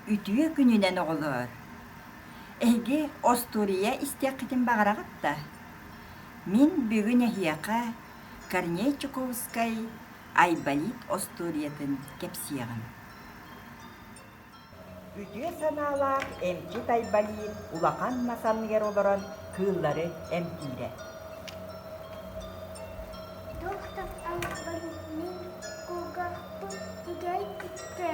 Үтүө күнүнэн оҕолоор! Эһиги остуоруйа истиэххитин баҕараҕыт да? Мин бүгүн эһиэхэ Корней Чуковскай «Айболит» остуоруйатын кэпсиэҕим. Үтүө санаалаах эмчит Айболит улахан мас анныгар олорон кыыллары эмтиирэ. Доктор Айболитны кугахпыт тигэй күттэ.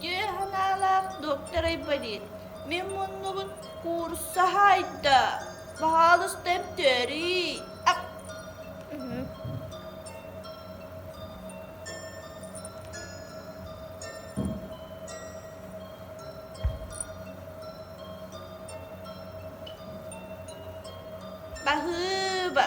Дьэ санаалаах доктор Айболит, мин муннубун куурса хаайда, баһаалыста эмтөөрүй Баһыыба.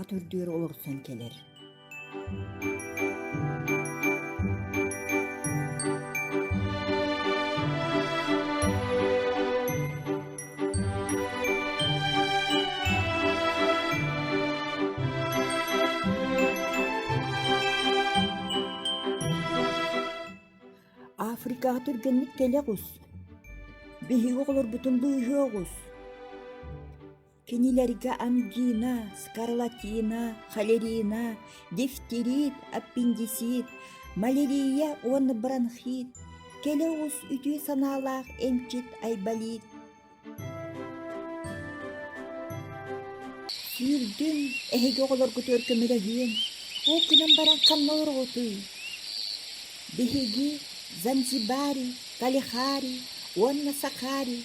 ат үрдүгэр олорсон кэлэр Африкаҕа түргэнник кэлэ оҕус биһиги оҕолорбутун быыһыа оҕус Кинилэргэ ангина, скарлатина, холерина, дифтерит, аппендицит, малярия уонна бронхит, кэлэ оҕус үтүө санаалаах эмчит айболит. Сүүрдүн эһиги оҕолоргутугар көмөлөһүөн, ол күнэн баран ханна ороҕутуй? Биһиги Занзибари, Калихари уонна Сахари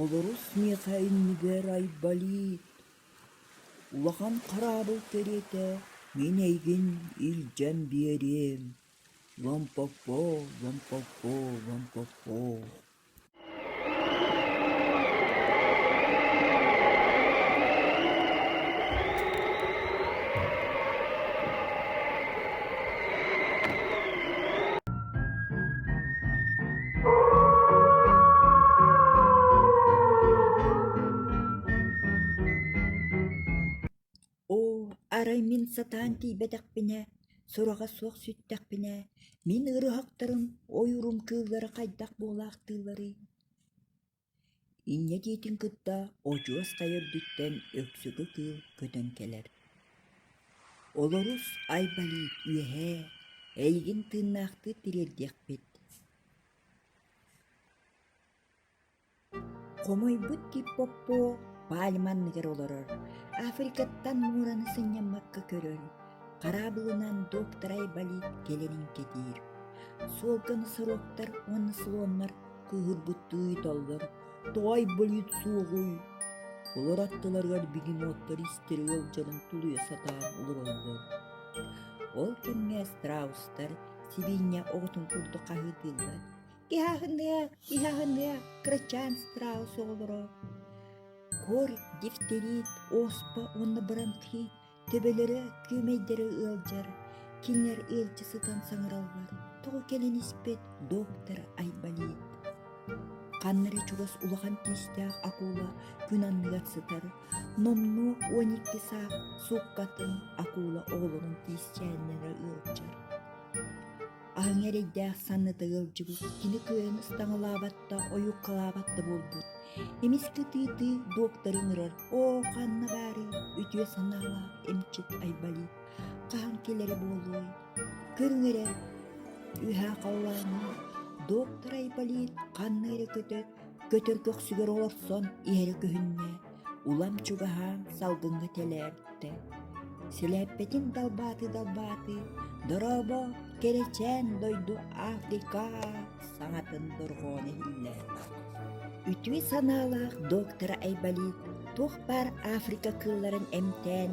Олорус миэхэ иннигэр айбалыы, улахан хараабыл кэриэтэ мин эйигин илдьэн биэриэм Ломпоппо, Ломпоппо, Ломпоппо Оо, арай мин сатаан тиийбэтэхпинэ, сураҕа суох сүттэхпинэ, мин ырыһахтарым ойуурум кыыллара хайдах буолаахтыылларый Инньэ диэтин кытта одьуос хайа үрдүттэн Өксүгү кыыл көтөн кэлэр. Олорус Айболит үөһээ эйигин тыыннаахтыы тириэрдиэхпит Хомойбут тип Поппо пальма анныгар олорор, Африкаттан муораны сынньаммакка көрөр, хараабылынан доктор Айболит кэлэрин кэтиир. Суолга носорогтар уонна слоннар кыыһырбыттыы италлар «Тоҕай болид суоҕуй?» Олор аттыларыгар бегемоттар истэрэ ыалдьарын тулуйа сатаан олороллор. Ол кэмҥэ страустар сибиинньэ оҕотун курдук хаһыытыыллар. «Киһаһыныа, киһаһыныа, крачаан страус оҕолоро!» Кор, дифтерит, оспа уонна баранты Төбөлөрө күөмэйдэрэ ыалдьар, кинилэр ыалдьа сытан саҥараллар, тоҕо кэлин испит доктор Айболит. Ханна эрэ чугас улахан тиистээх акула күн анныгар сытар, номнуо уон икки саах сууккатын акула оҕолорун тиисчээннэрэ ыалдьар. Аһыҥа эрэйдээх санныта ыалдьыбыт, кини кыайан ыстаҥалаабат да, ойууккалаабат да буолбут. Эмис кытыытыы доктору ыҥырар «Оо, ханна баарый?» үтүө санаалаах эмчит Айболит хаһан кэлэрэ буолуой? Көрүҥ эрэ, үһэ халлааны доктор Айболит ханна эрэ көтөөт, Көтөр көхсүгэр олорсон иһэрэ көһүннэ, улам чугаһаан салгыҥҥа тэлээртэ. Силээппэтин далбаатыы-далбаатыы дорообо, кэрэчээн дойду Африка саҥатын дорҕоон иһиллэр. Үтүө санаалаах доктора Айболит туох баар Африка кыылларын эмтээн